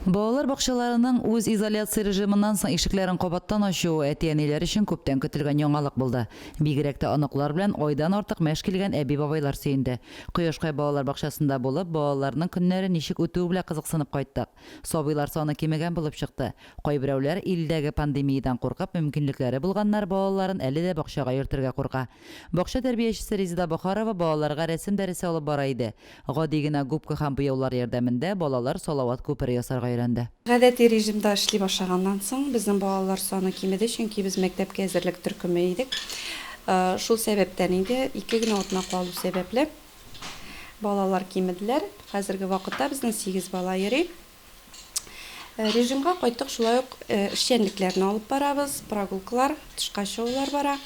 Балалар бакчаларының үз изоляция режимыннан соң ишекләрен кабаттан ачуы әти-әниләр өчен күптән көтелгән яңалык булды. Бигрәк тә оныклар белән айдан артык мәш килгән әби-бабайлар сөенде. Кояшкай балалар бакчасында булып, балаларның көннәре ничек үтүе белән кызыксынып кайттык. Сабыйлар саны кимегән булып чыкты. Кайберәүләр, илдәге пандемиядән куркып, мөмкинлекләре булганнар балаларын әле дә бакчага йөртергә курка. Бакча тәрбиячесе Резеда Бохарова балаларга рәсем дәресе алып бара иде. Гади генә губка һәм буяулар ярдәмендә балалар салават күпере ясарга өйрәнде. Гадәти режимда эшли башлаганнан соң, безнең балалар саны кимеде, чөнки без мәктәпкә әзерлек төркеме идек. Шул сәбәптән инде, ике генә атна калу сәбәпле, балалар кимеделәр. Хәзерге вакытта безнең сигез бала йөри. Режимга кайттык, шулай ук эшчәнлекләрне алып барабыз, прогулкалар, тышка чыгулар бара.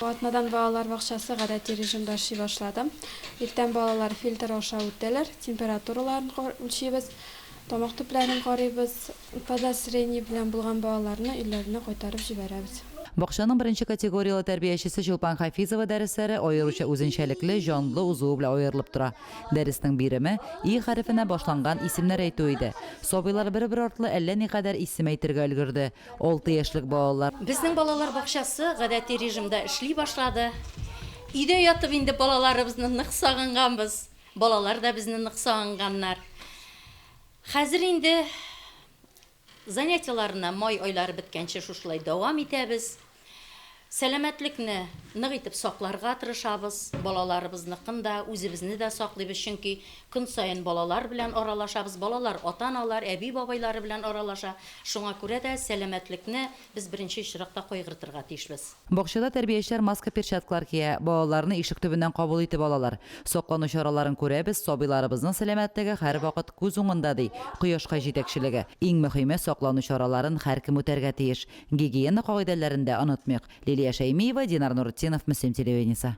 Атнадан балалар бакчасы гадәти режимда эшли башлады. Иртән балалар фильтр аша үтәләр, температураларын үлчибез, тамак төпләрен карыйбыз. Подозрение белән булган балаларны өйләренә кайтарып җибәрәбез. Бакчаның беренче категорияле тәрбиячесе Чулпан Хафизова дәресләре аеруча үзенчәлекле, җанлы узуы белән аерылып тора. Дәреснең биреме И хәрефенә башланган исемнәр әйтү иде. Сабыйлар бер-бер артлы әллә никадәр исем әйтергә өлгерде. Алты яшьлек балалар. Безнең балалар бакчасы гадәти режимда эшли башлады. Өйдә ятып инде балаларыбызны нык сагынганбыз, балалар да безне нык сагынганнар. Хәзер инде Занятиеларны май айлары беткәнче шушылай дәвам итәбез. Сәламәтлекне нык итеп сакларга тырышабыз. Балаларыбызныкын да, үзебезне дә саклыйбыз, чөнки көн саен балалар белән аралашабыз, балалар ата-аналар, әби-бабайлары белән аралаша. Шуңа күрә дә сәламәтлекне Без беренче чиракта кайгыртырга тиешбез. Бакчада тәрбиячеләр маска-перчаткалар кия, балаларны ишек төбеннән кабул итеп алалар. Саклану чараларын күрәбез, сабыйларыбызның сәламәтлеге һәрвакыт күз уңында, ди Кояшкай җитәкчелеге. Иң мөһиме, саклану чараларын һәркем үтәргә тиеш. Гигиена кагыйдәләрен дә онытмыйк. Лилия Шәймиева, Динар Нуретдинов, Мөслим телевидениесе.